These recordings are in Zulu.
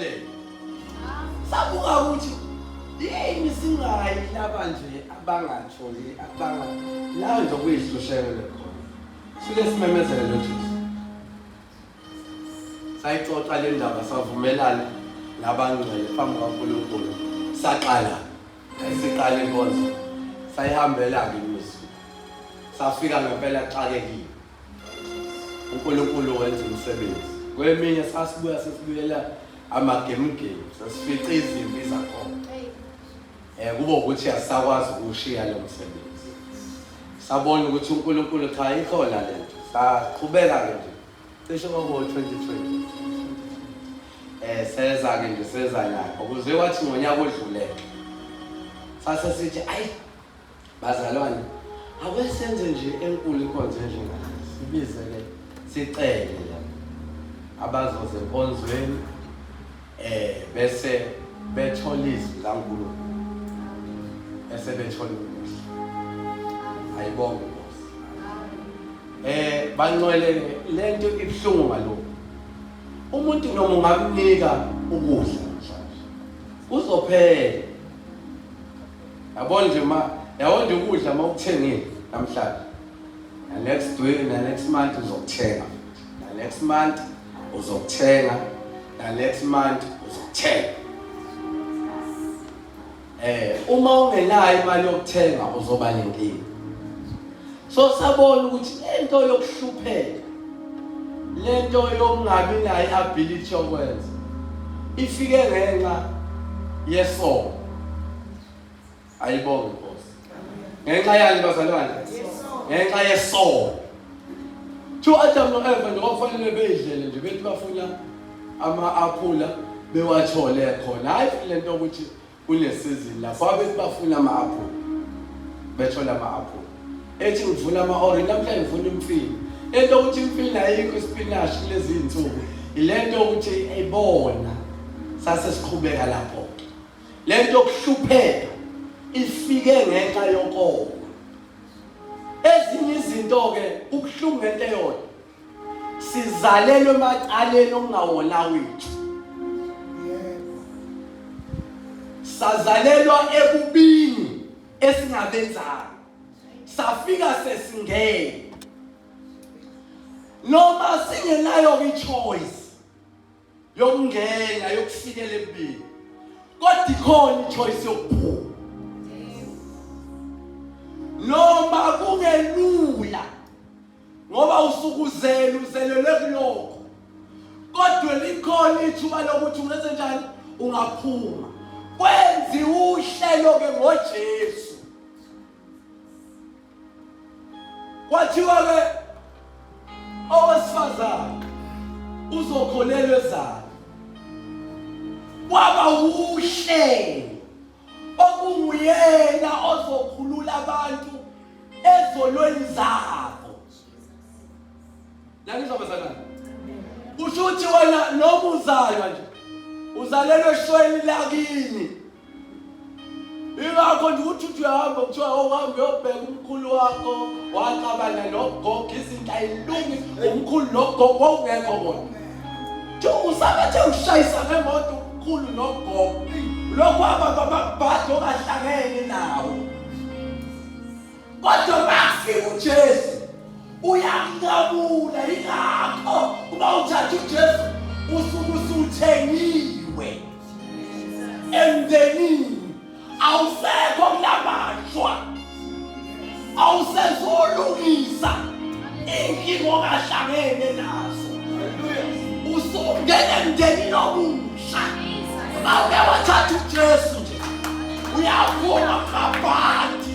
impumelelo sabuka ukuthi yini singayi laba nje abangatholi abanga lawo nje okuyihlusheko lekhona sike simemezele loJesu sayixoxa le ndaba savumelana nabangcwele phambi kwaNkulunkulu saqala siqala inkonzo sayihambela-ke imizwa safika ngempela xakekile uNkulunkulu wenza umsebenzi kweminye sasibuya sesibuyela amagemugemu sesifica izimpi zakhona um kube ukuthi asisakwazi ukuwushiya lo msebenzi sabona ukuthi unkulunkulu cha ikhona le nto saqhubeka-ke nje cishe kwabo-twenty twenty um seza-ke nje seza lapho kuze kwathi ngonyaka odluleke sase sithi ayi Bazalwane, ake senze nje enkulu inkonzo enjengale. Sibize-ke sicele labo abazoza enkonzweni eh bese bethola izwi laNkulunkulu bese bethola umusa. Ayibonge Nkosi. Eh banqwele lento ibuhlungu ngalokho. Umuntu noma ungamnika ukudla mhlawumbe. Uzophela yabo nje ma yabo nje ukudla uma ukuthengile namhlanje next week na next month uzokuthenga na next month uzokuthenga na next month uzokuthenga eh uma ungenayo imali yokuthenga uzoba nenkinga so sabona ukuthi lento yokuhlupheka lento yokungabi nayo i-ability yokwenza ifike ngenxa yesono ayibonge inkosi ngenxa yani bazalwane ngenxa yesono two adam no-eva nje kwakufanele beyidlele nje bethi bafuna ama-aphula bewathole khona hhayi le nto ukuthi kunesizini lapho abethi bafuna ama-aphula bethola ama-aphula ethi ngivuna ama-orange namhlanje ngifuna imfini into yokuthi imfini ayikho isipinashi kulezi iy'nsuku yile nto yokuthi ibona sase siqhubeka lapho le nto yokuhlupheka ifike ngenxa yokoma ezinye izinto-ke ubuhlungu ngento eyodwa sizalelwe emacaleni okungawona wethu sazalelwa ekubini esingabenzayo safika sesingene noma singenayo ichoice yokungena yokufikela empini kodwa ikhona ichoice yokuphuma noma kungelula ngoba usukuzele uzelelwe kuloko kodwa likhona ithuba lokuthi ungenze njani ungaphuma kwenziwa uhlelo ke ngoJesu Kwathiwa-ke owesifazane uzokholelwa ezalo kwaba wuhlelo okunguyena ozokhulula abantu ezolweni zabo nanizobazalana kusho ukuthi wena noma uzalwa nje uzalelwe eshweni lakini Ingakho nje ukuthi uthi uyahamba kuthiwa owuhambe uyobheka umkhulu wakho wacabana nogogo izinto ayilungi umkhulu nogogo wawungekho kona nje usabathe ushayisa ngemoto umkhulu nogogo lokhu ababababhadi ongahlangene nawo Kodwa makufika uJesu uyamqabula yingakho uma uthatha uJesu usuke usuthengiwe emndenini awusekho kulabashwa awusezolungisa inkinga ongahlangene nazo usungena emndenini omusha uma uke wathatha uJesu nje uyaphuma ngaphandle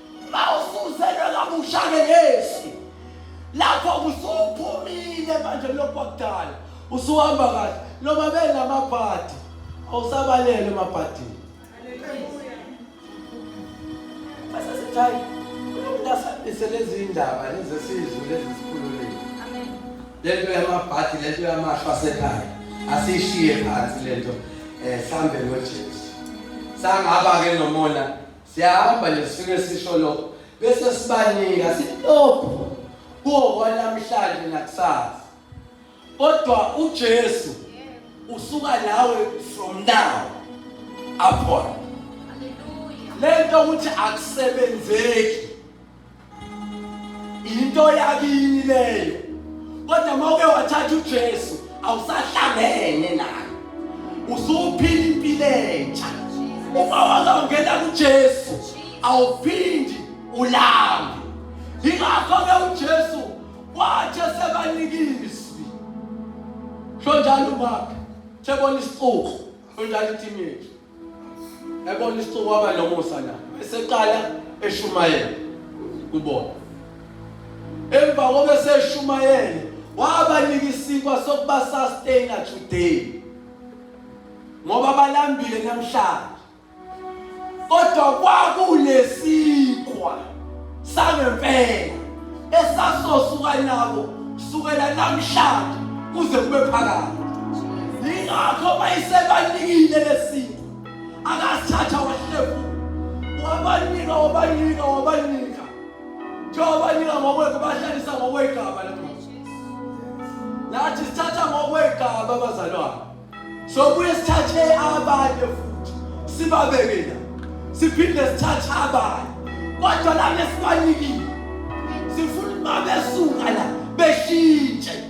Mawusuzelwe kabusha ngeyesu. Lapho usuphumile manje lokwakudala. Usuhamba kahle. Noma bengamabhadi. Awusabalele emabhadini. Haleluya. Bese sithayi. Uyasaphisa lezi indaba lezi sizwe lezi sikhululile. Amen. Lento yamabhadi lento yamashwa sekhaya. Asishiye phansi lento. Eh sambe noJesu. Sangaba ke nomona Siyahamba nje sifike sisho lokho bese sibanika sitophu kuwo kwanamhlanje nakusasa. Kodwa uJesu usuka nawe from now upon. Hallelujah. Lento ukuthi akusebenzeki Into yakini leyo. Kodwa uma uke wathatha uJesu awusahlangene naye. Usuphila impilo entsha. Uma wazongena kuJesu awuphindi ulambe. Ingakho ke uJesu wathi sebanikizwi. Shonjalo maka. Sebona isixuku. Shonjalo itimile. ebona isixuku waba nomusa na eseqala eshumayela kubona emva kobe seshumayele wabanika isikwa sokuba sustain today ngoba balambile namhlanje kodwa kwakulesikwa sangempela esasosuka nabo sukela namhlanje kuze kube phakade yingakho bayisebanikile lesinto akasithatha wahlebu wabanika wabanika wabanika njengobanika ngokwekho bahlalisa ngokwegama lathi sithatha ngokwegama abazalwane sobuye sithathe abanye futhi sibabeke la siphinde sithathe abanye kodwa lana esibanikile sifuna ukuba besuka la beshintshe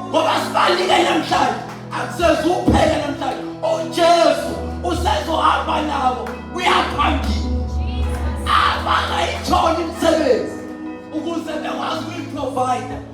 ngoba sibalike namhlanje akusezuphele namhlanje ujesu usezohamba nabo uyaphambili abangayitholi imisebenzi ukuze bekwazi ukuyiprovider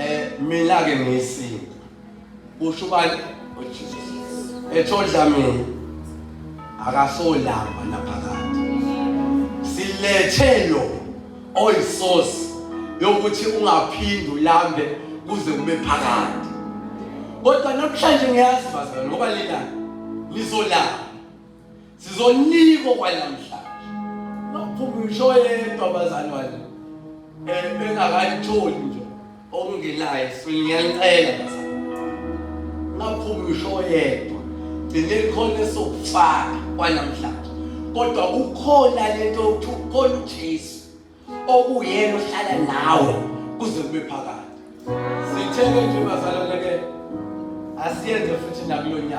Eh mina ke ngiyisinto. Usho ubani? UJesus. Ethodla mina akasolamba naphakathi. Silethe lo oyisosi yokuthi ungaphindi ulambe kuze kube phakade. Kodwa namhlanje ngiyazi bazalwane ngoba lina lizolamba. sizonikwa kwanamhlanje nophuma ngisho yedwa abazali wami um engakayitholi nje okungenayo siyanicela bazali ngaphuma ngisho yedwa gcine khona esokufaka kwanamhlanje kodwa kukhona lento yokuthi ukhona ujesu okuyena ohlala nawe kuze kube phakade sitheke nje bazalwane ke asiyenze futhi nakulo nyaka